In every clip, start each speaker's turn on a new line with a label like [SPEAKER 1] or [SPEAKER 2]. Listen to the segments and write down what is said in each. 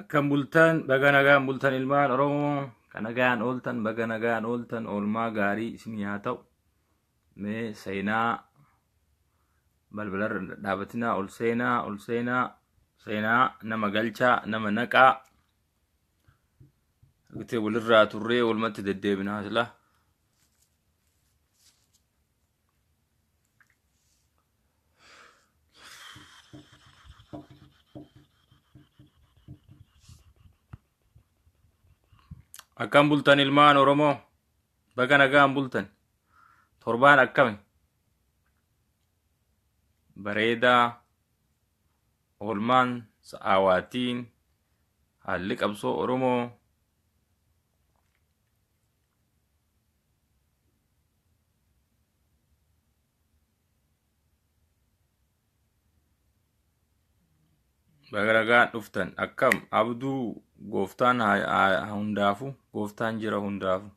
[SPEAKER 1] Akkam bultan baga nagaan bultan ilmaan Oromoo kan nagaan ooltan baga nagaan ooltan oolmaa gaarii isinii haa ta'u mee seenaa balbalarra dhaabatinaa ol seenaa ol seenaa seenaa nama galchaa nama naqaa gutee walirraa turree walumatti deddeebinaa silaa Akkam bultan ilmaan Oromoo baga nagaan bultan torbaan akkami bareedaa oolmaan sa'aawaatiin haalli qabsoo Oromoo Bagaragaa dhuftan akkam abduu gooftaan hundaafu gooftaan jira hundaafu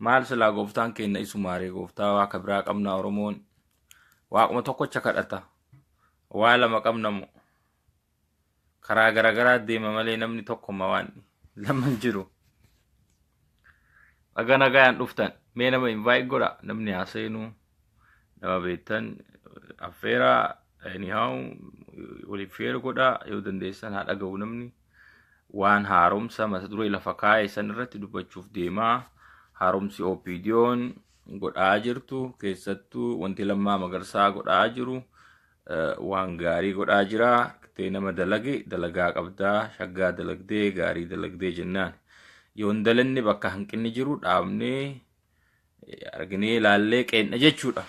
[SPEAKER 1] maal silaa gooftaan keenna isumaaree gooftaa waaqa biraa qabna oromoon waaquma tokkocha kadhata waa lama qabna moo karaa garagaraa deema malee namni tokkumma waan lama hin jiru. Baga nagayaan dhuftan mee nama invite godha namni haa seenu nama beektan affeera anyhow waliif share godha yoo dandeessan haa dhaga'u namni waan haaromsa mata duree lafa kaa'e san irratti dubbachuuf deemaa haaromsi OPDO'n godhaa jirtu keessattuu wanti lammaa magarsaa godhaa jiru waan gaarii godhaa jira tee nama dalagi dalagaa qabdaa shaggaa dalagdee gaarii dalagdee jennaan yoo hin dalanne bakka hanqinni jiru dhaabnee arginee ilaallee qeenna jechuudha.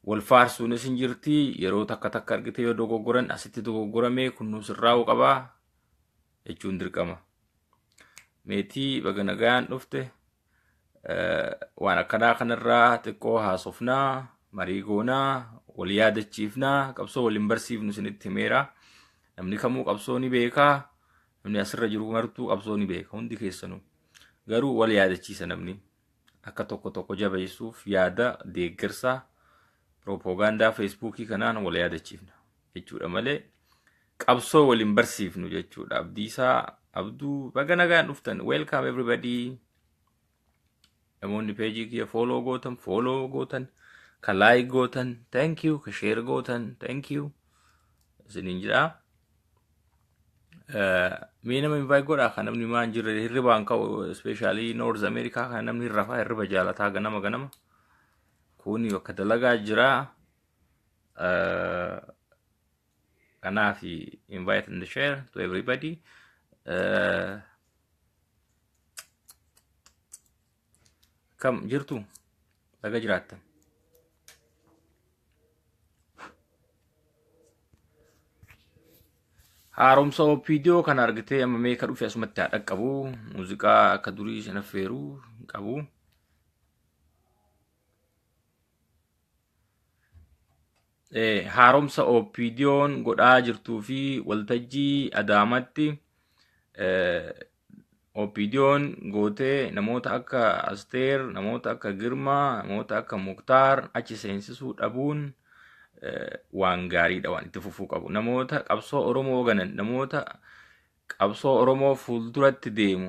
[SPEAKER 1] Wal faarsuunis hin jirti yeroo takka takka argite yoo dogoggoran asitti dogoggoramee kunnuu sirraa'uu qabaa jechuun dirqama. Meetii baga nagaan dhufte. Eh, waan akkanaa kanarraa xiqqoo haasofnaa marii goonaa wal yaadachiifnaa qabsoo waliin barsiifnu isinitti himeera namni kamuu qabsoo ni beekaa namni asirra jiru martuu qabsoo ni beeka hundi keessanuu garuu wal yaadachiisa namni akka tokko tokko jabeessuuf yaada deeggarsaa piroopoogaandaa feesbuukii kanaan wal yaadachiifna jechuudha malee qabsoo wal hin barsiifnu jechuudha abdiisaa abduu baga nagaan dhuftan welcome everybody namoonni peejii kiyya fooloo gootan fooloo gootan ka laayik gootan thank you ka sheer gootan thank you isiniin jedha Eh, mee nama invite godha kan namni maan jirre hirribaan ka'u ispeeshaalii noorz ameerikaa kan namni hirrafaa hirriba jaalataa ganama ganama kuuni bakka dalagaa jira Uh, kanaaf invite and share to everybody. Uh, kam jirtu baga jiraattan. Haaromsa OPDO kan argitee amma mee ka dhufe asumatti haa dhaqqabu. Muuziqaa akka durii shan affeeru hin qabu. haaromsa OPDO'n godhaa jirtuu fi waltajjii Adaamatti OPDO'n gootee namoota akka Asteer, namoota akka Girmaa, namoota akka Muktaar achi seensisuu dhabuun waan gaariidha waan itti fufuu qabu. Namoota qabsoo Oromoo ganan, namoota qabsoo Oromoo fuulduratti deemu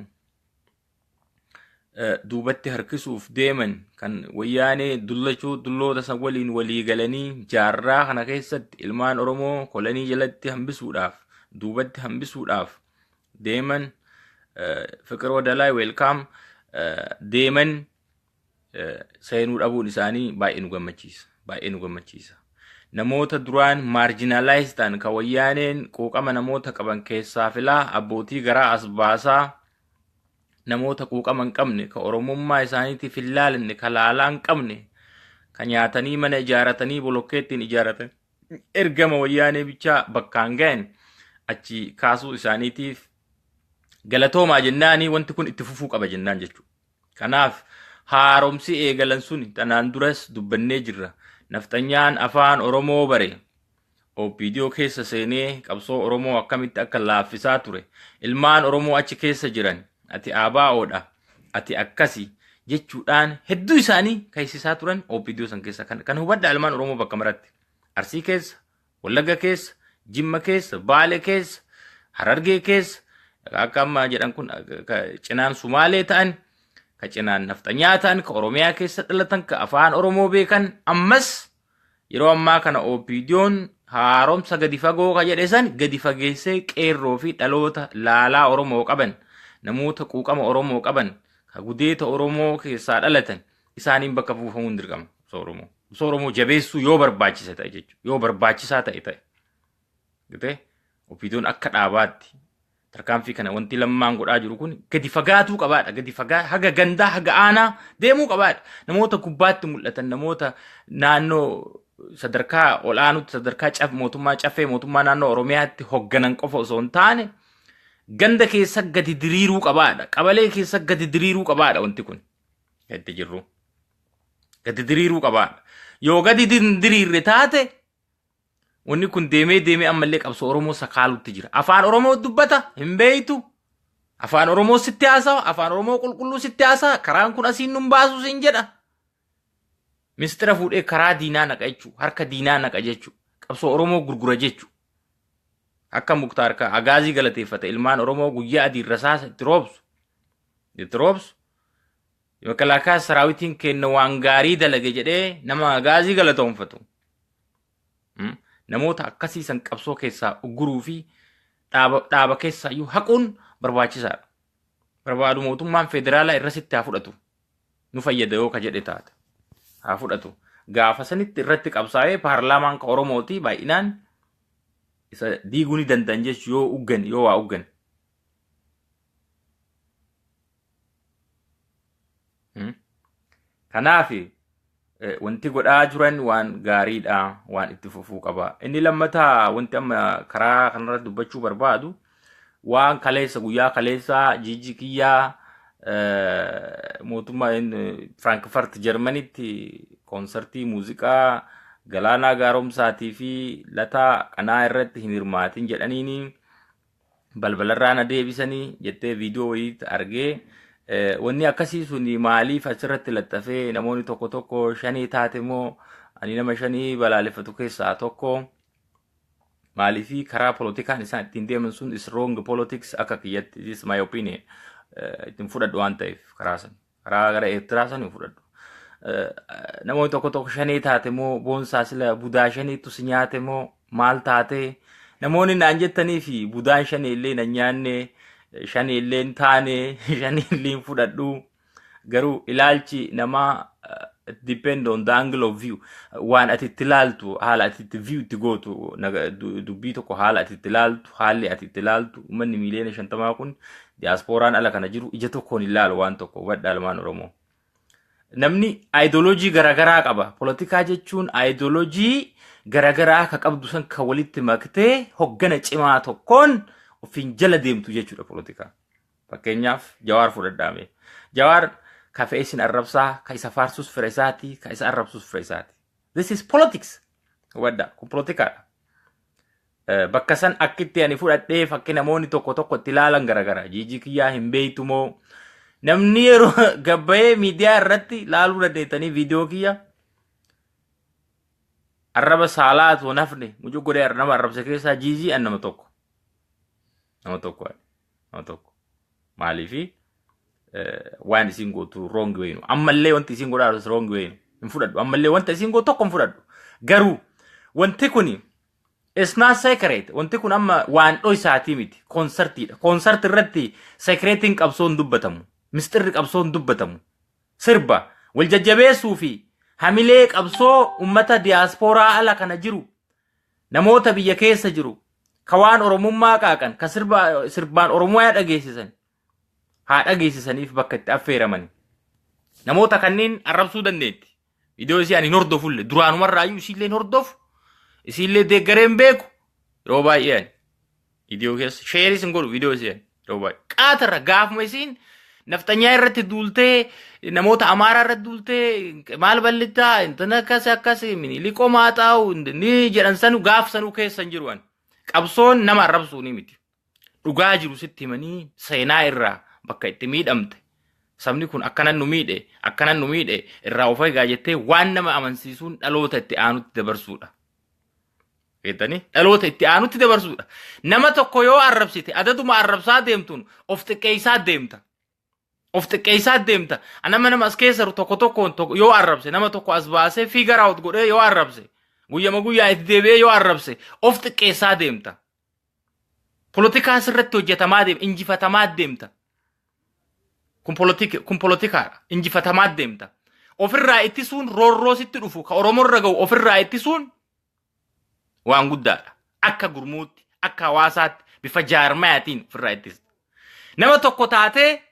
[SPEAKER 1] duubatti harkisuuf deeman kan wayyaanee dullachuu dulloota san waliin walii galanii jaarraa kana keessatti ilmaan Oromoo kolanii jalatti hambisuudhaaf duubatti hambisuudhaaf deeman fiqir wadalaa weelkaam deeman seenuu dhabuun isaanii baay'ee nu gammachiisa. Baay'ee nu gammachiisa. Namoota duraan maarjinaalaayis ta'an kan wayyaaneen quuqama namoota qaban keessaa filaa abbootii garaa as baasaa namoota quuqama hin qabne kan oromummaa isaaniitiif hin laalanne kan laalaa hin qabne kan nyaatanii mana ijaaratanii bolokkeettiin ijaaratan ergama wayyaanee bichaa bakkaan ga'an achi kaasuu isaaniitiif galatoomaa jennaanii wanti kun itti fufuu qaba jennaan jechuudha. Kanaaf haaromsi eegalan suni tanaan duras dubbannee jirra. Nafxanyaan afaan Oromoo bare OPDO keessa seenee qabsoo Oromoo akkamitti akka laaffisaa ture, ilmaan Oromoo achi keessa jiran ati ABO dha, ati akkasi jechuudhaan hedduu isaanii kaysisaa turan OPDO san keessa. Kana hubadhaa ilmaan Oromoo bakka maratti. Arsii keessa, Wallagga keessa, Jimma keessa, Baale keessa, Harargee keessa, akka amma jedhan kun ka cinaan Sumaalee ta'an, ka cinaan nafxanyaa ta'an, ka Oromiyaa keessa dhalatan, ka afaan Oromoo beekan, ammas yeroo ammaa kana OPDOn haaromsa gadi fagoo ka jedhe san gadi fageessee qeerroo fi dhaloota laalaa Oromoo qaban, namoota quuqama Oromoo qaban, ka gudeeta Oromoo keessaa dhalatan, isaaniin bakka buufamuun dirqama qabsoo Oromoo. Qabsoo Oromoo jabeessuu yoo barbaachise ta'e jechuudha. Yoo barbaachisaa ta'e ta'e. Gitee opiidoon akka dhaabaatti tarkaanfii kana wanti lammaan godhaa jiru kun gadi fagaatuu qabaadha. Gadi fagaa haga gandaa haga aanaa deemuu qabaadha. Namoota gubbaatti mul'atan namoota naannoo sadarkaa ol'aanutti sadarkaa caf mootummaa caffee mootummaa naannoo Oromiyaatti hogganan qofa osoo hin taane ganda keessa gadi diriiruu qabaadha. Qabalee keessa gadi diriiruu qabaadha wanti kun. itti jirru gadi diriiruu qabaan yoo gadi din- diriirre taate wanni kun deemee deemee ammallee qabsoo oromoo sakaalutti jira afaan oromoo dubbata hin beeytu afaan oromoo sitti haasawa afaan oromoo qulqulluu sitti haasawa karaan kun asiin nun baasu siin jedha mistira fuudhee karaa diinaa naqa jechuu harka diinaa naqa jechuu qabsoo oromoo gurgura jechuu akka muktaar ka agaazii galateeffate ilmaan oromoo guyyaa adiin rasaasa itti roobsu itti roobsu makalaakaa saraawitiin kenna waan gaarii dalage jedhee nama agaazii galatoomfatu. Mm. Namoota akkasii san qabsoo keessaa ugguruu fi dhaaba, dhaaba keessaa iyyuu haquun barbaachisaadha. Barbaadu mootummaan federaalaa irra sitti haa fudhatu. Nu fayyada yoo ka jedhe taate. Haa fudhatu. Gaafa sanitti irratti qabsaa'ee paarlaamaan ka Oromooti baay'inaan isa diiguu ni danda'an jechuun yoo uggan yoo waa uggan. Kanaaf wanti godhaa jiran waan gaariidha waan itti fufuu qaba. Inni lammataa wanti amma karaa kanarratti dubbachuu barbaadu waan kaleessa guyyaa kaleessaa jijji kiyyaa mootummaa Firaankifaart Jarmanitti koonsartii muuziqaa Galaanaa Gaaromsaatii fi Lataa Qanaa irratti hin hirmaatin jedhaniini. balbalarraa na deebisanii jettee viidiyoo wayii argee wanni akkasii sun maaliif asirratti laxxafee namoonni tokko tokko shanii taate moo ani nama shanii balaaleffatu keessaa tokko maaliif karaa polotikaan isaan ittiin deeman sun is wrong politics akka kiyyatti is my opinion ittiin fudhadhu waan ta'eef karaa sana. Karaa gara Eertiraa sanii fudhadhu. Namoonni tokko tokko shanee taate moo boonsaa sila budaa shaneetu si nyaate moo maal taate namoonni naan jettanii fi budaan shanee illee na nyaanne shanee illee hin taane shanee illee hin fudhadhu garuu ilaalchi namaa it depend on the angle of view waan ati itti ilaaltu haala ati itti view itti gootu naga- du- dubbii tokko haala ati itti ilaaltu haalli ati itti ilaaltu uummanni miiliyoona shantamaa kun Diyaaspooraan ala kana jiru ija tokkoon hin laalu waan tokko hubadha ilmaan Oromoo. Namni aayidoloojii garaagaraa qaba. Polotikaa jechuun aayidoloojii garaagaraa ka qabdu san ka walitti maktee hoggana cimaa tokkoon ofiin jala deemtu jechuudha polotikaa. Fakkeenyaaf Jawaar fudhadhaame. Jawaar ka fe'ee sin arrabsaa, ka isa faarsus fira isaati, ka isa arrabsus fira isaati. This is politics. Hubadha, kun polotikaadha. bakka san akkitti ani fudhadhee fakki namoonni tokko tokko itti ilaalan garagara jiijii kiyyaa hin beektu moo namni yeroo gabbayee miidiyaa irratti laaluu dandeettanii viidiyoo kiyya arraba saalaa osoo nafne mucuu godhee nama arrabse keessaa jiijii an nama tokko nama tokko ani nama tokko maaliifi waan isin gootu roongi wayinu ammallee wanti isin godhaa jirtu roongi wayinu hin fudhadhu ammallee wanta isin gootu tokko hin fudhadhu garuu wanti kuni It's not secret. Wanti kun amma waan dhoysaatii miti. Koonsartiidha. Koonsarti irratti sekireetiin qabsoo hin dubbatamu. Misxirri qabsoo hin dubbatamu. Sirba wal jajjabeessuu fi hamilee qabsoo ummata diyaaspooraa ala kana jiru namoota biyya keessa jiru ka waan oromummaa qaaqan ka sirba sirbaan oromiyaa dhageessisan haa dhageessisaniif bakka itti affeeramani. Namoota kanneen arrabsuu dandeetti. Viidiyoo isii ani hin hordofulle duraanumarraayyuu isiillee hin hordofu isiillee deeggaree hin beeku yeroo baay'ee ani viidiyoo keessa sheeris hin godhu viidiyoo isii ani yeroo baay'ee qaatarra gaafuma isiin nafxanyaa irratti duultee namoota amaaraa irratti duultee maal ballittaa intan akkas akkas miliqoo maaxaa'u ni jedhan sanu gaaf sanuu keessa hin jiru ani qabsoon nama arrabsuu ni miti dhugaa jiru sitti himanii seenaa irraa bakka itti miidhamte sabni kun akkanan nu miidhe akkanan nu miidhe irraa of eegaa jettee waan nama amansiisuun dhaloota itti aanutti dabarsuudha. Beektanii dhaloota itti aanutti dabarsuudha. Nama tokko yoo arrabsite adaduma arrabsaa deemtuun of xiqqeessaa deemta. of xiqqeessaa deemta anama nama as keessa jiru tokko tokkoon tokko yoo arrabse nama tokko as baasee fiigar out godhee yoo arrabse guyyama guyyaa itti deebi'ee yoo arrabse of xiqqeessaa deemta polotikaa sirratti hojjetamaa deemta injifatamaa deemta kun polotika kun polotikaadha injifatamaa deemta ofirraa ittisuun roorroo sitti dhufu ka oromorra ga'u ofirraa ittisuun waan guddaadha. Akka gurmuutti, akka hawaasaatti, bifa jaarmayaatiin ofirraa ittisa. Nama tokko taatee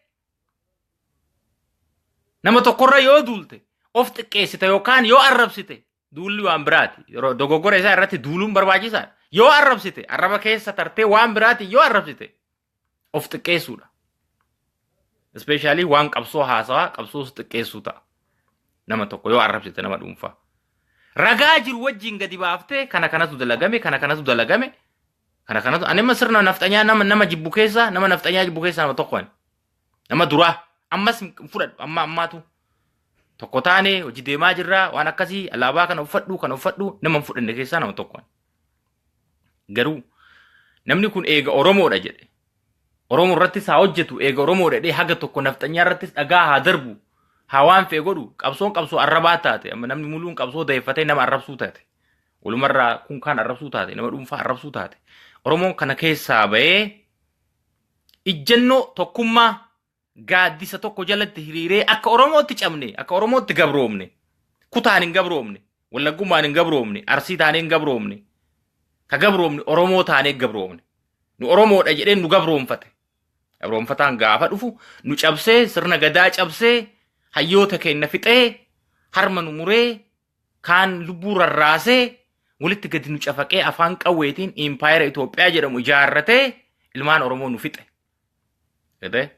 [SPEAKER 1] nama tokkorra yoo duulte of xiqqeessite yookaan yoo arrabsite duulli waan biraati. Yeroo dogoggora isaa irratti duuluun barbaachisaadha. Yoo arrabsite arraba keessa tartee waan biraati yoo arrabsite of xiqqeessuudha. Ispeeshaalii waan qabsoo haasawaa qabsoo of xiqqeessuu ta'a. Nama tokko yoo arrabsite nama dhuunfaa. Ragaa jiru wajjin gadi baaftee kana kanatu dalagame kana kanatu dalagame kana kanatu ani amma sirna nafxanyaa nama nama jibbu keessaa nama nafxanyaa jibbu keessaa nama tokko ani. Nama duraa ammas hin fudhadhu amma ammaatu tokko taane hojii deemaa jirra waan akkasii alaabaa kana uffadhu kana uffadhu nama hin fudhanne keessaa nama tokko ani. Garuu namni kun eega Oromoodha jedhe. Oromoo irrattis haa hojjetu eega Oromoodha jedhee haga tokko nafxanyaa irrattis dhagaa haa darbu. Haa waan fe'e godhu qabsoon qabsoo arrabaa taate amma namni muluun qabsoo dayeeffatee nama arrabsuu taate. Walumarraa kun kaan arrabsuu taate nama dhuunfaa arrabsuu taate. Oromoon kana keessaa ba'ee ijjannoo tokkummaa gaaddisa tokko jalatti hiriiree akka Oromootti cabne, akka Oromootti gabroomne, kutaan hin gabroomne, wallaggummaan hin gabroomne, arsii taanee hin gabroomne, ka gabroomne Oromoo taanee gabroomne. Nu Oromoodha jedhee nu gabroomfate. Gabroomfataan gaafa dhufu nu cabsee, sirna gadaa cabsee, hayyoota keenya fixee, harma nu muree, kaan lubbuu rarraasee, walitti gadi nu cafaqee afaan qawweetiin impaayera Itoophiyaa jedhamu ijaarratee ilmaan Oromoo nu fixe. Gatee?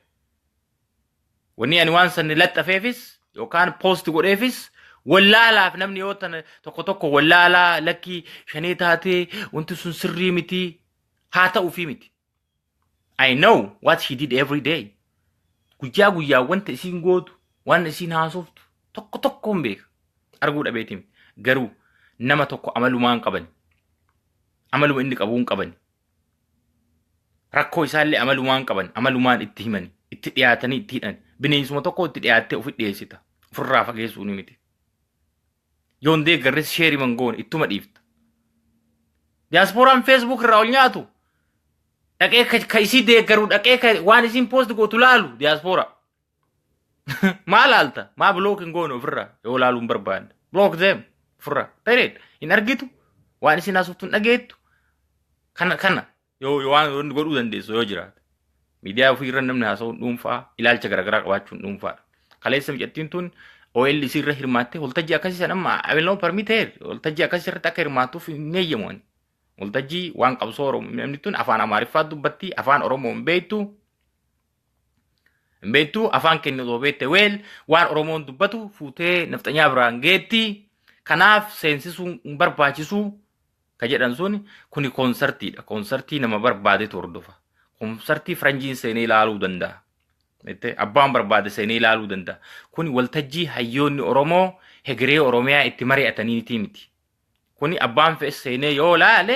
[SPEAKER 1] Wanni ani waan sanni laxxafeefis yookaan poost godheefis wallaalaaf namni yoo tana tokko tokko wallaalaa lakkii shanee taatee wanti sun sirrii miti haa ta'uufii miti. I know what she did every day. Guyyaa guyyaa wanta isiin gootu, waan isiin haasoftu tokko tokko hin beeka. Arguu dhabeeti miti. Garuu nama tokko amalumaan qabani. Amaluma inni qabuun qabani. Rakkoo isaallee amalumaan qaban, amalumaan itti himani, itti dhiyaatanii itti hidhan. Bineensuma tokko itti dhiyaattee ofi dhiyeessita. Ofirraa fageessuu ni miti. Yoon deeggarres sheeri mangoon ittuma dhiifta. Diyaaspooraan feesbuuk irraa ol nyaatu dhaqee ka isii deeggaru dhaqee ka waan isiin poost gootu laalu diyaaspooraa. Maa laalta? Maa block hin goone ofirraa yoo laaluu hin barbaanne? Block them ofirraa. Period. Hin argitu. Waan isin haasoftu hin dhageettu. Kana kana yoo yoo waan wanni godhuu dandeessu yoo jiraate. Miidiyaa ofii irra namni haasa'uun dhuunfaa ilaalcha garaagaraa qabaachuun dhuunfaadha. Kaleessa mucattiin tun OLC irra hirmaattee waltajjii akkasii san amma abiloo parmiteer waltajjii akkasii irratti akka hirmaattuuf hin eeyyamu ani. Waltajjii waan qabsoo Oromoo namni tun afaan Amaariffaa dubbatti afaan Oromoo hin beektu Hin beektu afaan keenya osoo beekte weel waan Oromoon dubbatu fuutee nafxanyaa biraan geetti. Kanaaf seensisuun hin barbaachisu ka jedhan sun kuni koonsartiidha. Koonsartii nama barbaadetu hordofa. Koonsartii faranjiin seenee ilaaluu danda'a. Jettee abbaan barbaade seenee ilaaluu danda'a. Kuni waltajjii hayyoonni Oromoo hegeree Oromiyaa itti mari'ataniitii miti. Kuni abbaan fe'e seenee yoo laale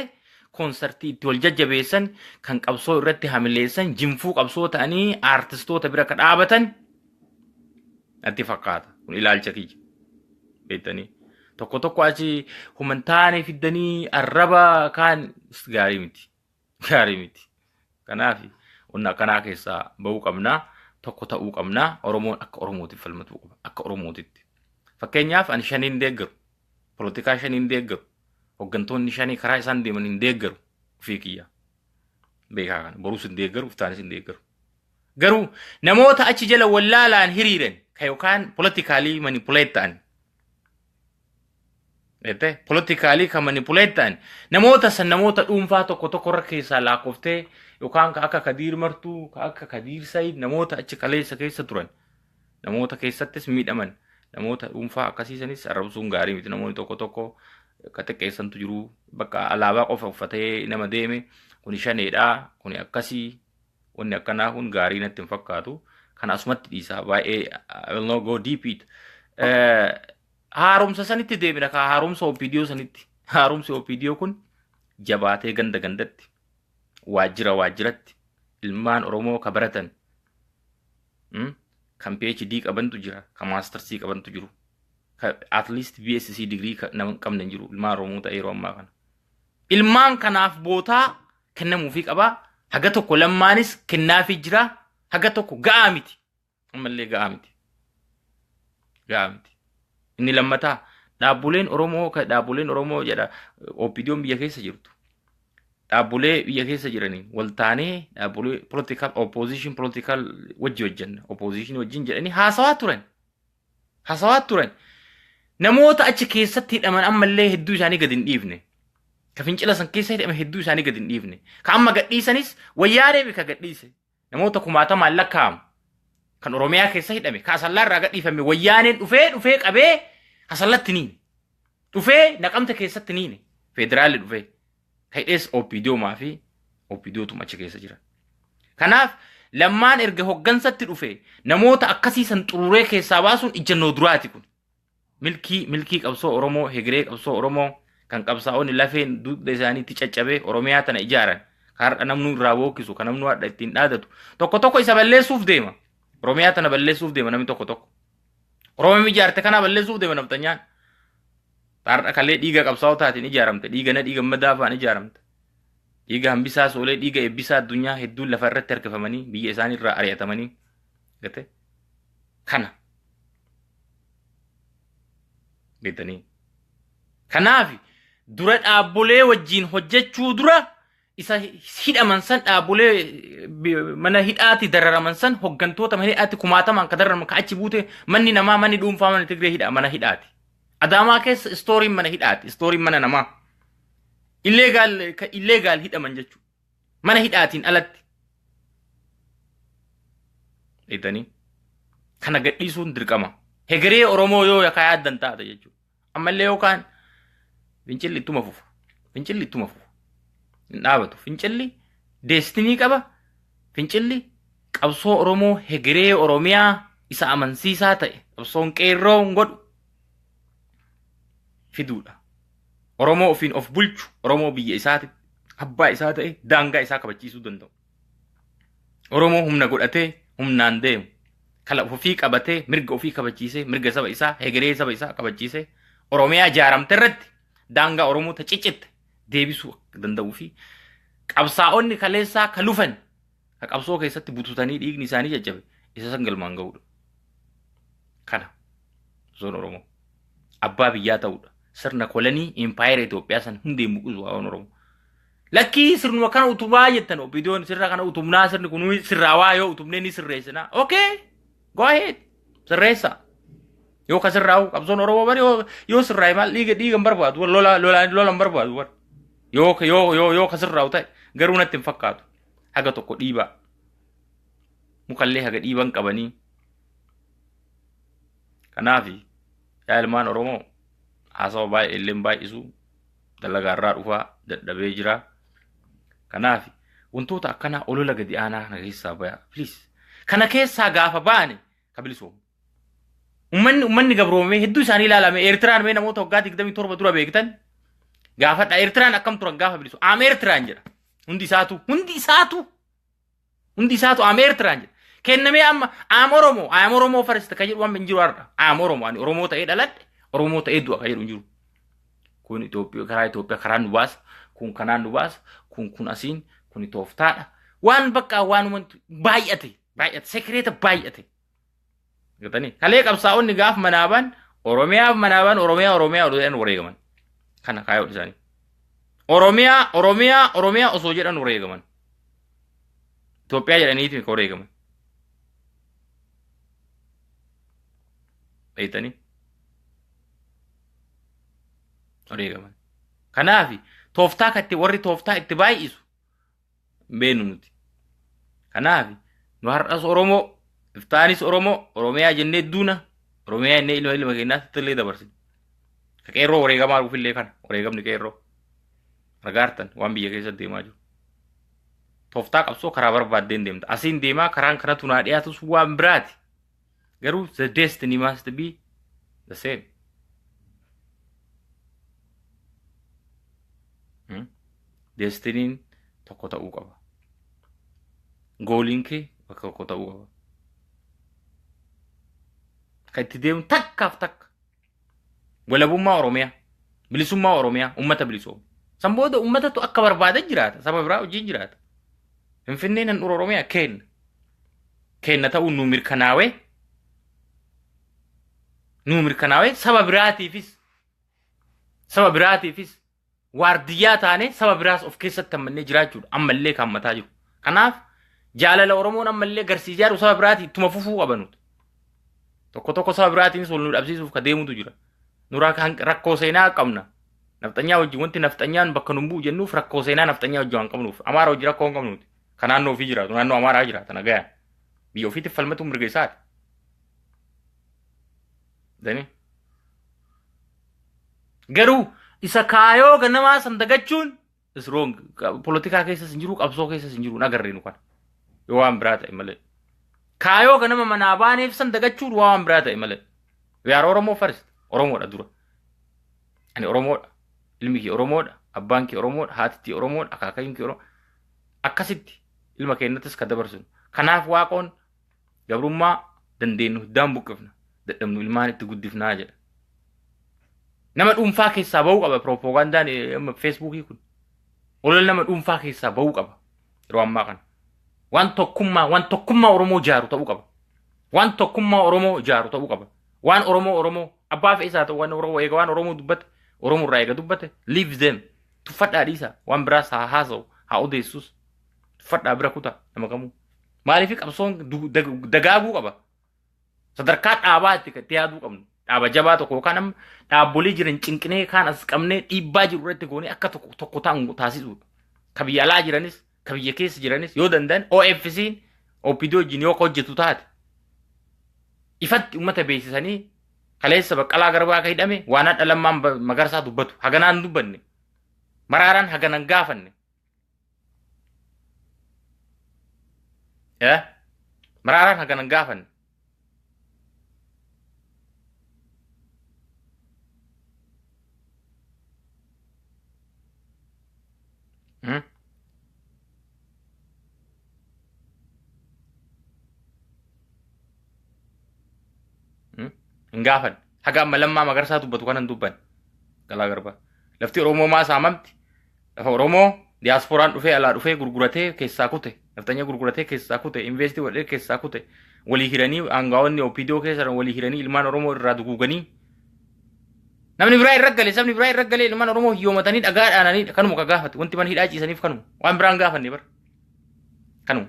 [SPEAKER 1] konsartii itti wal jajjabeessan kan qabsoo irratti hamileessan jinfuu qabsoo ta'anii aartistoota bira ka dhaabatan natti fakkaata. Kun ilaalcha kiyya. Beektanii. Tokko tokko achi humantaanii fiddanii arraba kaan gaarii miti. gaarii miti. Kanaaf wanna akkanaa keessaa ba'uu qabnaa tokko ta'uu qabnaa Oromoon akka Oromootiif falmatuu qaba akka Oromootitti. Fakkeenyaaf ani shanii hin deeggaru. Polotikaa shanii hin deeggaru. Hoggantoonni shanii karaa isaan deeman hin deeggaru. Ofii kiyya. Beekaa kana. Boruus hin deeggaru, iftaanis hin deeggaru. Garuu namoota achi jala wallaalaan hiriiran ka yookaan polotikaalii manipuleet ta'an Jettee politikaalii kan manipuleet ta'an namoota san namoota dhuunfaa tokko tokko irra keessaa laakkoftee yookaan ka akka Kadiir Martuu, ka akka Kadiir Sayid namoota achi kaleessa keessa turan namoota keessattis miidhaman namoota dhuunfaa akkasii sanis arrabsuun gaarii miti namoonni tokko tokko ka xiqqeessantu jiru bakka alaabaa qofa uffatee nama deeme kuni shaneedha kuni akkasii wanni akkanaa kun gaarii natti hin fakkaatu kan asumatti dhiisaa baay'ee I will not go deep it. Eh, haaromsa sanitti deebina kaa haaromsa OPDO sanitti haaromsi OPDO kun jabaatee ganda gandatti waajjira waajjiratti ilmaan Oromoo ka baratan mm, kan PhD qabantu jira kan maastarsii qabantu jiru ka at least BSc digirii ka- nama hin qabne hin jiru ilmaan Oromoo ta'e yeroo ammaa kana ilmaan kanaaf bootaa kennamuufii qabaa haga tokko lammaanis kennaafii jira haga tokko ga'aa miti ammallee ga'aa miti. Ga'aa miti. Inni lammataa dhaabbuleen Oromoo ka dhaabbuleen Oromoo jedha OPDOn biyya keessa jirtu. Dhaabbulee biyya keessa jiraniin wal taanee dhaabbulee political opposition political wajji hojjenna opposition wajjin jedhanii haasawaa turan. Haasawaa turan. Namoota achi keessatti hidhaman ammallee hedduu isaanii gad hin dhiifne. Ka fincila san keessa hidhame hedduu isaanii gad hin dhiifne. Ka amma gadhiisanis wayyaanee mika gadhiise. namoota kumaatamaan lakkaa'amu kan Oromiyaa keessa hidhame ka asallaa irraa gadhiifame wayyaaneen dhufee dhufee qabee asallatti niin dhufee naqamte keessatti niin federaalli dhufee ka hidhees OPDOmaa fi OPDOtu achi keessa jira. Kanaaf lammaan erga hoggansatti dhufe namoota akkasii san xururee keessaa baasuun ijjannoo duraati kun. Milkii milkii qabsoo Oromoo hegeree qabsoo Oromoo kan qabsaa'onni lafeen dugda isaaniitti caccabee Oromiyaa tana ijaaran kan har'a namnuu irraa bookkisu kan namnuu har'a ittiin dhaadatu tokko tokko isa balleessuuf deema. Oromiyaa tana balleessuuf deema namni tokko tokko. Oromiyaa ijaarte kanaa balleessuuf deema nafxanyaan. Har'a kalee dhiiga qabsaa'otaatiin ijaaramte dhiiga nadhii gammadaa fa'aan ijaaramte. Dhiiga hambisaa soolee dhiiga eebbisaa addunyaa hedduun lafa irratti harkifamanii biyya isaanii irraa ari'atamanii. Gate? Kana. Beektanii? Kanaaf dura dhaabbolee wajjin hojjechuu dura isa hidhaman san dhaabbolee bi- mana hidhaati dararaman san hoggantoota mana hidhaatti kumaatamaan ka dararaman ka achi buute manni namaa manni dhuunfaa mana Tigree hidha mana hidhaati. Adaamaa keessa istooriin mana hidhaati istooriin mana namaa. Illeegaal ka illeegaal hidhaman jechuudha. mana hidhaatiin alatti dhiitanii kana gadhiisuun dirqama hegeree oromoo yoo yakaa yaaddan taate jechuudha ammallee yookaan fincilli ittuma fufa fincilli ittuma fufa hin dhaabatu fincilli deestinii qaba fincilli qabsoo oromoo hegeree oromiyaa isa amansiisaa ta'e qabsoon qeerroon godhu fiduudha Oromoo ofiin of bulchu, Oromoo biyya isaatitti abbaa isaa ta'e daangaa isaa kabachiisuu danda'u. Oromoo humna godhatee humnaan deemu, kala ofii qabatee mirga ofii kabachiisee mirga saba isaa hegeree saba isaa kabachiisee Oromiyaa ijaaramte irratti daangaa Oromoo ta ciccitte deebisuu danda'uu fi qabsaa'onni kaleessaa ka lufan ka qabsoo keessatti bututanii dhiigni isaanii caccabe isa san galmaan ga'uudha. Kana osoon Oromoo abbaa biyyaa ta'uudha. Sirna kolanii impaayera Itoophiyaa san hundeen buqqisu waan Oromoo. Lakkii sirnuma kana utubaa jettan opiidiyoon sirna kana utubnaa sirni kun sirraawaa yoo utubnee ni sirreessinaa. Okay go ahead sirreessaa. Yoo ka sirraa'u qabsoon Oromoo bari yoo yoo sirraa'e maal dhiiga dhiiga hin barbaadu lola lola lola hin barbaadu bar. Yoo yoo yoo yoo ka sirraa'u ta'e garuu natti hin fakkaatu. haga tokko dhiibaa mukallee haga dhiiban qabanii kanaaf yaa ilmaan oromoo haasawa baay'ee illee baay'isu dalagaarraa dhufaa dadhabee jira kanaaf wantoota akkanaa olola gadi aanaa kana keessaa baya please kana keessaa gaafa baane ka bilisoomu ummanni ummanni gabroomee hedduu isaanii ilaalame eertiraan mee namoota waggaa 27 dura beektan gaafadha eertiraan akkam turan gaafa bilisu aam eertiraan jedha Hundi isaatu hundi isaatu hundi isaatu am Eertiraan jedha. Kennamee amma am Oromoo am Oromoo farista kan jedhu waan hin jiru har'a. Am Oromoo ani Oromoo ta'ee dhaladhe Oromoo ta'ee du'a kan jedhu hin jiru. Kun Itoophiyaa karaa Itoophiyaa karaa nu baasa kun kanaan nu baasa kun kun asiin kun tooftaadha. Waan bakka waan baay'ate baay'ate sekireeta baay'ate. Gatanii kalee qabsaa'onni gaaf manaabaan Oromiyaaf manaabaan Oromiyaa Oromiyaa odhan wareegaman. Kana kaayoo dhisaanii. Oromiyaa Oromiyaa Oromiyaa osoo jedhan wareegaman. Itoophiyaa jedhaniiti ka wareegaman. Beektanii? Wareegaman. Kanaafi tooftaa katti warri tooftaa itti baay'isu hin beeknu nuti. Kanaaf nu har'as Oromoo, iftaanis Oromoo, Oromiyaa jennee duuna, Oromiyaa jennee ilma ilma keenyaatti illee dabarsina. Ka qeerroo wareegamaa dhufu illee kana, wareegamni qeerroo. Argaartan waan biyya keessa deemaa jiru. Tooftaa qabsoo karaa barbaaddeen deemta. Asiin deemaa karaan kanatu naa dhiyaatus waan biraati. Garuu the destiny must be the same. Hmm? Destiniin tokko ta'uu qaba. Gooliin kee bakka tokko ta'uu qaba. Kan itti deemu takkaaf takka. Walabummaa Oromiyaa, bilisummaa Oromiyaa, ummata bilisoome. San booda ummatatu akka barbaada jiraata, saba biraa wajjin jiraata. Finfinneen handhuura Oromiyaa keenna. Keenna ta'uun nuu mirkanaawee, nuu mirkanaawee saba biraatiifis, saba biraatiifis waardiyyaa taanee saba biraas of keessatti hammannee jiraachuudha ammallee kan mataa jiru. Kanaaf jaalala Oromoon ammallee garsii ijaaru saba biraatii ittuma fufuu qabanuudha. Tokko tokko saba biraatiinis wal nu dhabsiisuuf ka deemutu jira. Nuraa kan rakkoo seenaa qabna. Nafxanyaa wajjin wanti nafxanyaan bakka nun bu'u jennuuf rakkoo seenaa nafxanyaa wajjin waan qabnuuf. Amaara wajjin rakkoo hin qabnuuti. Ka naannoo ofii jiraatu naannoo Amaaraa jiraata nagayaan. Biyya ofiitiif falmatuun mirga isaati. Danii. Garuu isa kaayoo ganamaa san dagachuun is wrong. Polotikaa keessas hin jiru, qabsoo keessas hin jiru, hin agarree nu kana. Yoo waan biraa ta'e malee. Kaayoo ganama manaa baaneef san dagachuun waa waan biraa ta'e malee. We are Oromoo first. Oromoodha dura. Ani Oromoodha. Ilmi kee Oromoodha. Abbaan kee Oromoodha. Haatittii Oromoodha. Akaakayyuun kee Oromoodha. Akkasitti ilma keenyattis kan dabarsinu. Kanaaf waaqoon Gabrummaa dandeennu hiddaan buqqifna. Dadhabnu ilmaan itti guddifnaa jedha. Nama dhuunfaa keessaa ba'uu qaba pirooppoogandaan feesbuukii kun. Olola nama dhuunfaa keessaa ba'uu qaba yeroo ammaa kana. Waan tokkummaa waan tokkummaa Oromoo ijaaru ta'uu qaba. Waan tokkummaa Oromoo ijaaru ta'uu qaba. Waan Oromoo Oromoo abbaa fe'isaa ta'u waan Oromoo eega waan Oromoo dubbate Oromoo irraa eega dubbate leave them tuffadhaa dhiisaa waan biraas haa haasa'u haa odeessus Tuffadhaa bira kutaa nama kamuu. Maaliif qabsoon du- dag- dagaaguu qaba? Sadarkaa dhaabaa itti itti yaaduu qabnu. Dhaaba jabaa tokko yookaan amma dhaabbolee jiran cinqinee kaan as qabnee dhiibbaa jiru irratti goonee akka tokko tokko ta'an taasisuudha. Ka biyya alaa jiranis, ka biyya keessa jiranis yoo danda'an OFC'n OPD wajjin yoo hojjetu taate ifatti uummata beeksisanii kaleessa baqqalaa garbaa akka hidhame waan hadha lammaan ba- magarsaa dubbatu haganaan dubbanne maraaraan haganan gaafanne Eh? Maraaraan hagana hin gaafanne. Hmm? Hmm? Hin gaafanne. Haga amma lammaa magarsaa dubbatu kana hin dubbanne. Galaa garbaa. Lafti Oromoo maa saamamti? Lafa Oromoo diyaaspooraan dhufee alaa dhufee gurguratee keessaa kute. Nafxanya gurguratee keessaa kute. Investii godhee keessaa kute. Walii hiranii aangaawonni OPDO keessa jiran walii hiranii ilmaan Oromoo irraa duguuganii. Namni biraa irra gale sabni biraa irra gale ilmaan Oromoo hiyyoomatanii dhagaa dhaananii kanuma ka gaafate. Wanti mana hidhaa ciisaniif kanuma. Waan biraan gaafanne bara. Kanuma.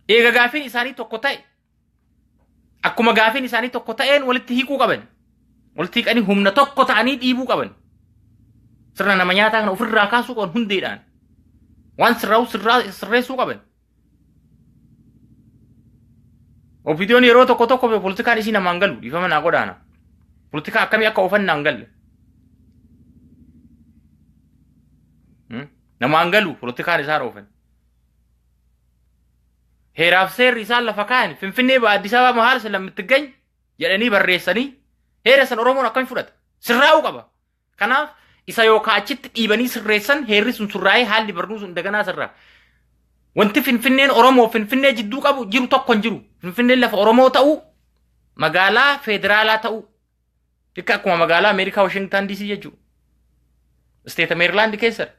[SPEAKER 1] Eega gaafiin isaanii tokko ta'e Akkuma gaafiin isaanii tokko ta'een walitti hiikuu qaban. Walitti hiikanii humna tokko ta'anii dhiibuu qaban. Sirna nama nyaataa kana ofirraa kaasuu qaban hundeedhaan. Waan sirraa'u sirraa sirreessuu qaban. Opidiyoon yeroo tokko tokko politikaan isii namaan galu dhiifama naa godhaana. Politikaa akkamii akka oofan naan galle. Namaan galu politikaan isaan oofan. heeraaf seerri isaan lafa kaayan Finfinnee ba Addis Ababa mahaal sila mittigany jedhanii barreessanii heera san Oromoon akkami fudhata? Sirraa'uu qaba. Kanaaf isa yookaan achitti dhiibanii sirreessan heerri sun sirraa'ee haalli barnuu sun daganaa sirraa. Wanti Finfinneen Oromoo Finfinnee jidduu qabu jiru tokko hin jiru. Finfinneen lafa Oromoo ta'uu magaalaa federaalaa ta'uu Dikka akkuma magaalaa Ameerikaa Washington DC jechuudha. Isteeta Meerilaand keessadha.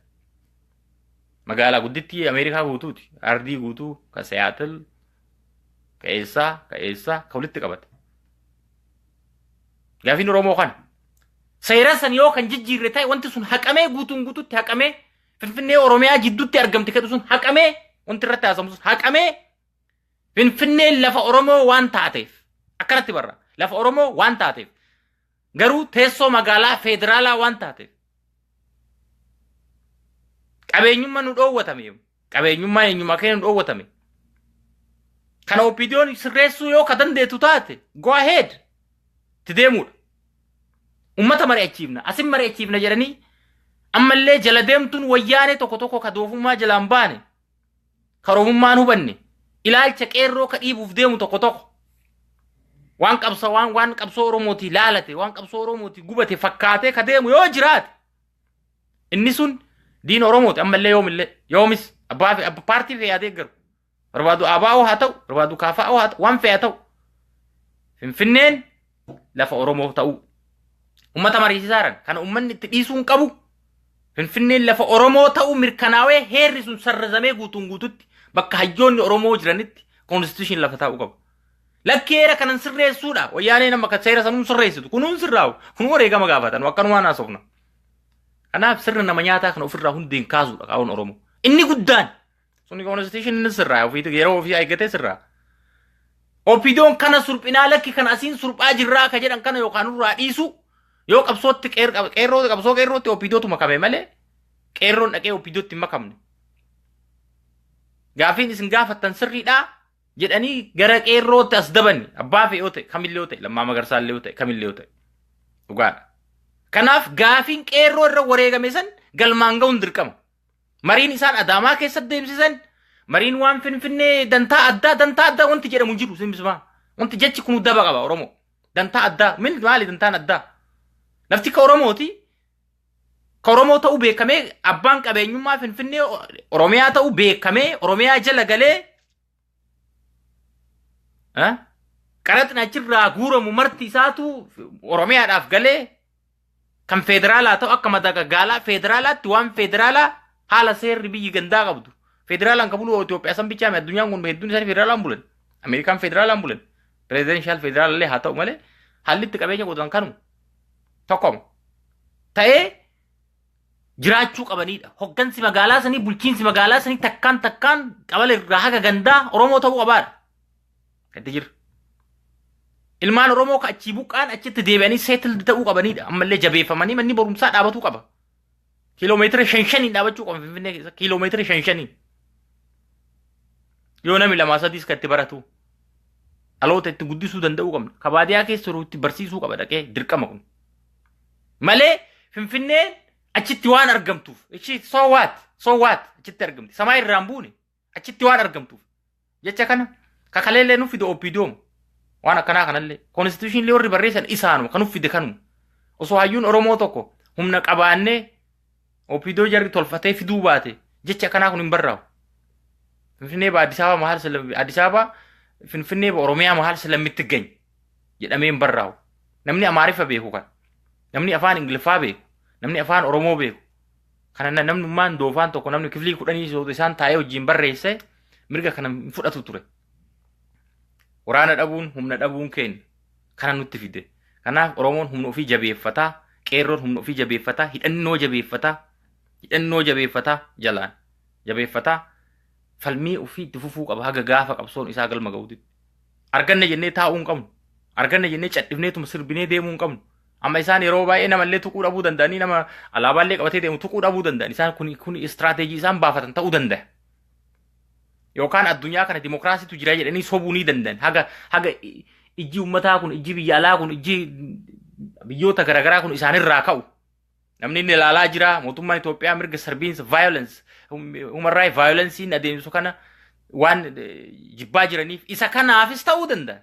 [SPEAKER 1] Magaalaa guddittii Ameerikaa guutuuti. Ardii guutuu ka Seattle ka eessaa ka eessaa ka walitti qabate. Gaafiin Oromoo kana. Seera san yoo kan jijjiirre ta'e wanti sun haqamee guutuun guututti haqamee Finfinnee Oromiyaa jidduutti argamte jedhu sun haqamee wanti irratti haasamu sun haqamee Finfinneen lafa Oromoo waan taateef akkanatti barra. Lafa Oromoo waan taateef garuu teessoo magaalaa federaalaa waan taateef qabeenyummaa nu dhoowwatame qabeenyummaa eenyummaa keenya nu dhoowwatame. Kana OPDO'n sirreessuu yoo ka dandeettu taate go ahead itti deemuudha. Uummata mari'achiifna asin mari'achiifna jedhanii ammallee jala deemtuun wayyaanee tokko tokko ka doofummaa jalaan baane karomummaan hubanne ilaalcha qeerroo ka dhiibuuf deemu tokko tokko waan qabsa waan waan qabsoo oromooti laalate waan qabsoo oromooti gubate fakkaatee ka deemu yoo jiraate inni sun diin oromooti ammallee yoomillee yoomis abbaa fe- abba- paartii fe'aa deeggaru barbaadu abaa'oo haa ta'u barbaadu kaafaa'oo haa ta'u waan fe'aa ta'u finfinneen lafa Oromoof ta'uu. Uummata mariisisaa jiran kana uummanni itti dhiisuu hin qabu. Finfinneen lafa Oromoo ta'uu mirkanaawee heerri sun sarrazamee guutuun guututti bakka hayyoonni Oromoo jiranitti koonstituushiin lafa taa'uu qaba. Lakki heera kanan sirreessuudha. Wayyaaneen amma kan seera sanuun sirreessitu. Kunuun sirraa'u. Kun wareegama gaafatan. Akkanumaan haasofna. Kanaaf sirna nama nyaataa kana ofirraa hundeen kaasuudha qaawwan Oromoo. Inni guddaan Suni konstitushiniin sirraa ofiitu yeroo ofii eeggatee sirraa. Opidoon kana surphinaa lakki kan asiin surphaa jirraa ka jedhan kana yookaan nurraa dhiisu yoo qabsootti qeer- qab- qeerroo qabsoo qeerrootti opidootu makame malee qeerroon dhaqee opidootti hin makamne. Gaafiin isin gaafattan sirriidhaa jedhanii gara qeerrootti as dabanni abbaa fe'ee yoo ta'e kamillee yoo ta'e lammaa magarsaa illee yoo ta'e kamillee yoo ta'e dhugaadha. Kanaaf gaafiin qeerroo irra wareegame san galmaan ga'uun dirqama. Mariin isaan Adaamaa keessatti deemsisan mariin waan Finfinnee dantaa addaa dantaa addaa wanti jedhamu hin jiru simbismaa. Wanti jechi kun daba qaba Oromoo. Dantaa addaa min maali dantaan addaa? Lafti ka Oromooti. Ka Oromoo ta'uu beekamee abbaan qabeenyummaa Finfinnee Oromiyaa ta'uu beekamee Oromiyaa jala galee Eh? Qaraxni achirraa guuramu marti isaatu Oromiyaadhaaf galee kan federaalaa ta'u akka madaqa gaalaa federaalaatti waan federaalaa haala seerri biyyi gandaa qabdu. Federaalaan kan bulu Itoophiyaa san bichaa miti addunyaan kun hedduun isaanii federaalaan bulan. Ameerikaan federaalaan bulan. Pirezidenshal federaalallee haa ta'u malee haalli itti qabeenya godhan kanuma. Tokkoma. Ta'ee jiraachuu qabaniidha. Hoggansi magaalaa sanii bulchiinsi magaalaa sanii takkaan takkaan qabala irraa haga gandaa Oromoo ta'uu qabaadha. Gadda jira. Ilmaan Oromoo ka achii buqqaan achitti deebi'anii seetildi ta'uu qabaniidha. Ammallee jabeeffamanii manni barumsaa dhaabatuu qaba. Kiiloomeetira shan shaniin dhaabachuu qaba Finfinnee keessa. Kiiloomeetira shan shaniin. Yoo namni lamaa sadiis kan itti baratu. Dhaloota itti guddisuu danda'uu qabna. Ka baadiyaa keessa jiru itti barsiisuu qaba dhaqee dirqama kun. Malee Finfinneen achitti waan argamtuuf. Ishii so what? So what? Achitti argamti. Samaa irraan buune. Achitti waan argamtuuf. Jecha kana kakaleellee nuuf fide OPDOM. Waan akkanaa kanallee. Konstituushinillee warri barreessan isaanuma kan nuuf fide kanuma. Osoo hayyuun Oromoo tokko humna qabaannee OPDO jarri tolfatee fiduu baate jecha akkanaa kun hin barraa'u. Finfinnee ba Addis Ababa maal sila Addis Ababa Finfinnee ba Oromiyaa maal sila mitti gany. jedhamee hin barraa'u. Namni Amaariffa beeku kana. Namni afaan Ingiliffaa beeku. Namni afaan Oromoo beeku. Kana na- namnummaan doofaan tokko namni kiflii kudhanii sootu isaan taa'ee wajjin barreesse mirga kana hin fudhatu ture. Waraana dhabuun humna dhabuun keenya kana nutti fide. Kanaaf Oromoon humna ofii jabeeffataa, qeerroon humna ofii jabeeffataa, hidhannoo jabeeffataa, hidhannoo jabeeffataa jalaan jabeeffataa falmii ofii itti fufuu qaba haga gaafa qabsoon isaa galma ga'uutti. arganne jennee taa'uu hin qabnu arganne jennee cadhifneetuma sirbinee deemuu hin qabnu amma isaan yeroo baay'ee namallee tuquu dhabuu danda'anii nama alaabaallee qabatee deemu tuquu dhabuu danda'an isaan kun kun istiraateejii isaan baafatan ta'uu danda'a. Yookaan addunyaa kana dimokiraasiitu jira jedhanii sobuu ni danda'an haga haga i- ijji ummataa kun ijji biyya alaa kun ijji biyyoota garaagaraa kun isaanirraa ka'u Namni inni ilaalaa jira mootummaan Itoophiyaa mirga sarbiinsa violence human right violence'n adeemsisu kana waan eh, jibbaa jiraniif isa kanaafis ta'uu danda'a.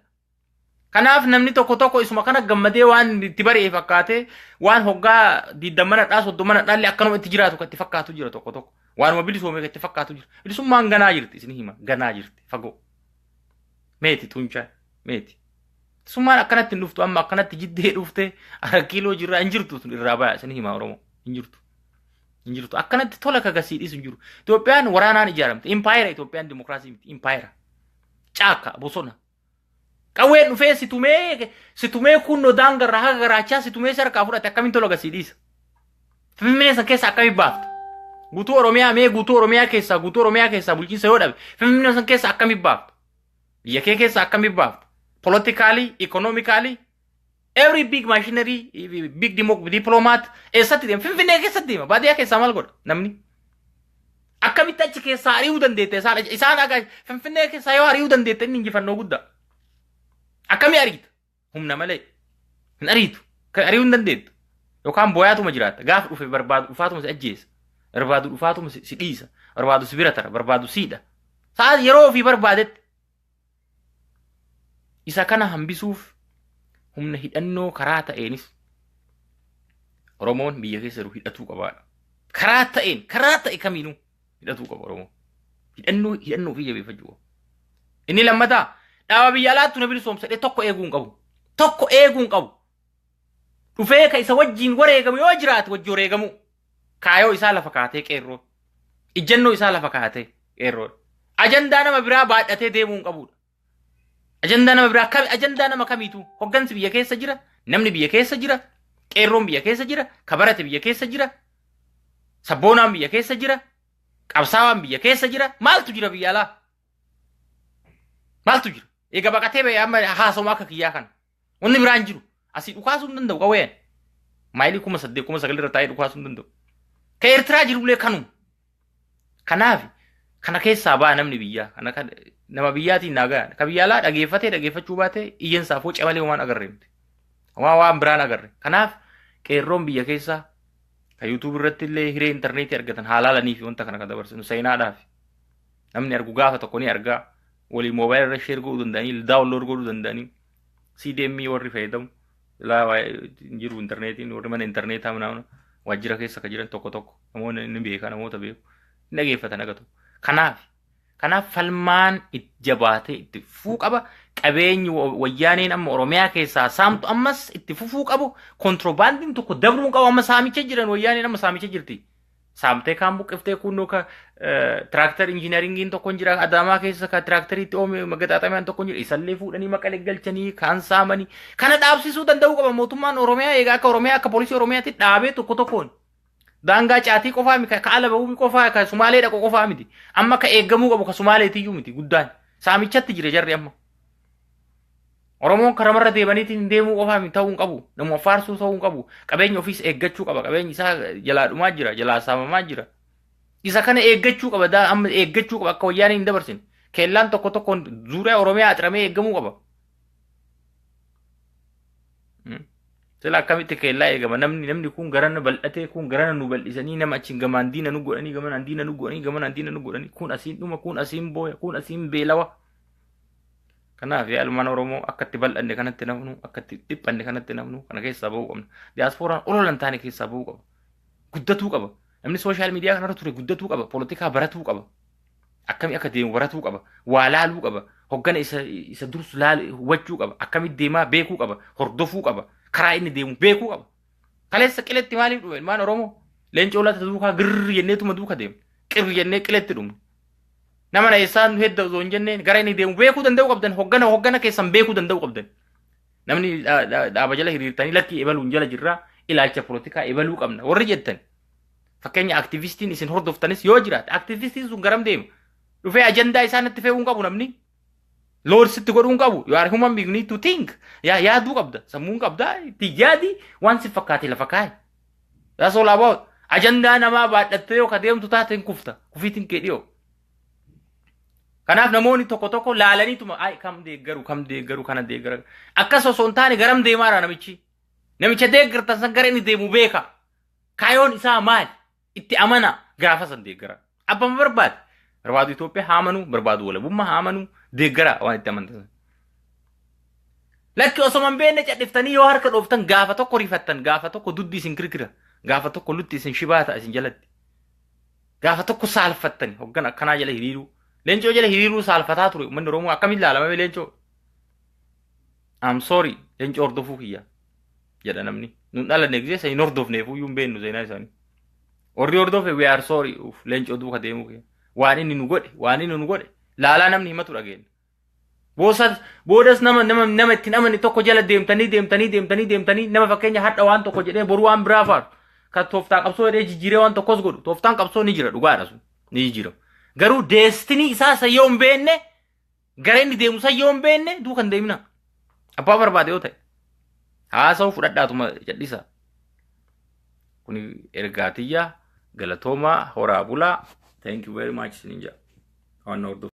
[SPEAKER 1] Kanaaf namni tokko tokko isuma kana gammadee waan itti bari'e fakkaatee waan hoggaa diiddammana dhaa soddomana dhaalli akkanuma itti jiraatu kan itti fakkaatu jira tokko tokko. Waanuma bilisoome kan itti fakkaatu jira. Bilisummaan ganaa jirti isin hima ganaa jirti fagoo. Meeti tuunchaan. Meeti. Summaan akkanatti hin dhuftu amma akkanatti jiddee dhufte arakkiiloo jirraa hin jirtu sun irraa baya isin himaa Oromoo hin jirtu. Hin jirtu akkanatti tola kagasii dhiisu hin jiru. Itoophiyaan waraanaan ijaaramte impaayera Itoophiyaan dimokiraasii miti impaayera caakka bosona. Qawween dhufee si tumee si tumee kunnoo daangarraa haga garaachaa si tumee si harkaa fudhate akkamiin tola gasii dhiisa. Finfinnee san keessa akkamiin baafta? Guutuu Oromiyaa mee guutuu Oromiyaa keessaa guutuu Oromiyaa keessaa bulchiinsa yoo dhabe Finfinnee san keessa akkamiin baafta? Biyya kee keessa akkamitti baafta? Politikaalii, ikoonoomikaalii, every big machinery, big diplomat eessatti deema? Finfinnee keessatti deema. Baadiyyaa keessaa maal godha namni? Akkamitti achi keessaa ari'uu dandeette isaan? Isaan Finfinnee keessaa yoo ari'uu dandeette inni injifannoo guddaa. Akkamii ariita? humna malee hin ariitu kan ari'uu hin dandeettu yookaan booyaatuma jiraatta gaafa dhufe barbaadu dhufaatuma si ajjeesa barbaadu dhufaatuma si si dhiisa barbaadu si bira tara barbaadu siidha sa'a yeroo ofii barbaadetti isa kana hambisuuf humna hidhannoo karaa ta'eenis Oromoon biyya keessa jiru hidhatuu qabaadha. Karaa ta'een, karaa ta'e kamiinuu. hidhatuu qaba Oromoo. Hidhannoo hidhannoo ofii jabeeffachuu qaba. Inni lammataa dhaaba biyya alaattu na bilisoomsa jedhee tokko eeguu hin qabu. Tokko eeguu hin qabu. Dhufee ka isa wajjin wareegamu yoo jiraate wajji wareegamu. Kaayoo isaa lafa kaatee qeerroo. Ijjannoo isaa lafa kaatee qeerroo. Ajandaa nama biraa baadhatee deemuu hin qabudha. Ajandaa nama biraa kami ajandaa nama kamiitu hoggansi biyya keessa jira, namni biyya keessa jira, qeerroon biyya keessa jira, kabarate biyya keessa jira, sabboonaan biyya keessa jira, qabsaawaan biyya keessa jira, maaltu jira biyya alaa? Maaltu jira? Eega baqatee ba'e amma haasoma akka kiyyaa kana. Wanni biraa hin jiru. Asii dhukaasuu hin danda'u qawween. Maayilii kuma saddeet kuma sagal irra taa'ee dhukaasuu hin danda'u. Ka Eertiraa jirullee kanuma. Kanaaf kana keessaa ba'a namni biyyaa. Kana kan nama biyyaatiin naa ga'a. Ka biyya alaa dhageeffatee dhageeffachuu baatee iyyansaa foca malee waan agarre miti. Waan waan biraan agarre. Kanaaf qeerroon biyya keessaa ka yuutuubii irratti illee hiree intarneetii argatan haalaalanii fi wanta kana kan dabarsinu seenaadhaaf. Namni argu gaafa tokko ni argaa. walii moobaayila irra sheer godhuu danda'anii daawunlood godhuu danda'anii CDM warri fayyadamu ilaa waa- hin jiru intarneetiin warri mana intarneetaa mana waajjira keessa kan jiran tokko tokko namoonni ni beeka namoota beeku hin dhageeffatan agatu kanaaf kanaaf falmaan itti jabaatee itti fufuu qaba qabeenyi wa- wayyaaneen amma oromiyaa keessaa saamtu ammas itti fufuu qabu kontiroobaandiin tokko dabruu qabu amma saamicha jiran wayyaaneen amma saamicha jirti saamtee kaan buqqiftee kunnoo ka tiraaktar injiinaringiin tokko hin jira adaamaa keessa ka tiraakteriitti oome magaxaaxamaan tokko hin jira isallee fuudhanii maqalee galchanii kaan saamanii kana dhaabsisuu danda'uu qaba mootummaan oromiyaa egaa akka oromiyaa akka poolisii oromiyaatti dhaabee tokko tokkoon daangaa caatii qofaa miti ka ala ba'uu qofaa ka sumaalee dhaqu qofaa miti amma ka eeggamuu qabu ka sumaaleetiyyuu miti guddaan saamichatti jira jarri amma. Oromoon karamarra deemaniitiin deemuu qofaa miti ta'uu hin qabu. Namuma faarsuu ta'uu hin qabu. Qabeenya ofiis eeggachuu qaba. Qabeenyi isaa jalaa dhumaa jira, jalaa saamamaa jira. Isa kana eeggachuu qaba. daa- Amma eeggachuu qaba akka wayyaanee hin dabarsine. Kellaan tokko tokkoon zuuriyaa Oromiyaa axramee eeggamuu qaba. Mm. Sila akkamitti keellaa eegama namni namni kun garana bal'atee kun garana nu bal'isanii nama achiin gamaan diina nu godhanii gamanaan diina nu godhanii gamanaan diina nu godhanii kun asiin dhuma kun asiin booya kun asiin beelawa Kanaaf yaa ilmaan Oromoo akka itti bal'anne kanatti nafnu akka itti dhiphanne kanatti nafnu kana keessaa ba'uu qabna. Diyaaspooraan ololan taane keessaa ba'uu qaba. Guddatuu qaba. Namni sooshaal miidiyaa kanarra ture guddatuu qaba. Poolitikaa baratuu qaba. Akkamii akka deemu baratuu qaba. Waa laaluu qaba. Hoggana isa, isa dursu laal hubachuu qaba. Akkamii deemaa beekuu qaba. Hordofuu qaba. Karaa inni deemu beekuu qaba. Kaleessa qiletti maaliif dhume ilmaan Oromoo? Leencoo laata duukaa girri jenneetuma duuka deemne. Qirri jennee qiletti dhumne. Nama na eessaa nu hedda osoo hin jenneen gara inni deemu beekuu danda'uu qabdan hoggana hoggana keessan beekuu danda'uu qabdan. Namni dha- dha- dhaaba jala hiriirtanii lakkii ebaluun jala jirraa ilaalcha polotikaa ebaluu qabna warri jettan. Fakkeenya aktivistiin isin hordoftanis yoo jiraate aktivistiin sun garam deema? Dhufee ajandaa isaa natti fe'uu hin qabu namni. Lords itti godhuu hin qabu. You are human being, you need to think. Yaa yaaduu qabda. Sammuun qabda. Itti yaadi waan si fakkaate lafa kaa'i. That's all about. Ajandaa namaa baadhattee yoo ka deemtu taate hin kufta. Kufiitiin kee dhiyoo. Kanaaf namoonni tokko tokko laalaniituma ay kam deeggaru kam deeggaru kana deeggara. Akkas osoo hin taane garam deemaara namichi. Namicha deeggartan san gara inni deemu beeka. Kaayoon isaa maali? Itti amanaa gaafa san deeggaraa. Abbaan barbaade barbaadu Itoophiyaa haa amanuu barbaadu walabummaa haa amanuu deeggaraa waan itti amantan sana. Lakki osoma hin beekne cadhiftanii yoo harka dhooftan gaafa tokko rifattan gaafa tokko duddi isin kirkira gaafa tokko lutti isin shibaa ta'a isin jalatti. Gaafa tokko saalfattani hoggan akkanaa jala hiriiruu. Leencoo jala hiriiruu saalfataa ture uummanni Oromoo akkamiin laalama leencoo? I'm sorry leenca hordofuu kiyya jedha namni nun dhalanne giseessa hin hordofneef iyyuu hin beennu seenaa isaanii warri hordofe we are sorry uuf leenca duuka deemuu kiyya waan inni nu godhe waan inni nu godhe laalaa namni himatu dhageenya boosas boodas nama nama nama ittiin amane tokko jala deemtanii deemtanii deemtanii deemtanii nama fakkeenya hadha waan tokko jedhee boru waan biraa faatu kan tooftaa qabsoo jedhee jijjiiree waan tokkos godhu tooftaan qabsoo ni jira dhugaadha sun ni jijjiirama garuu deestinii isaa isa yoo hin beekne Gara inni deemu san yoo hin beekne duuka hin deemina. Abbaa barbaade yoo ta'e. Haasa'u fudhadhaatuma jedhisa. Kuni ergaa tiyya galatoomaa horaa bulaa. Thank you very much isiniin jedha. Waan na hordoftan.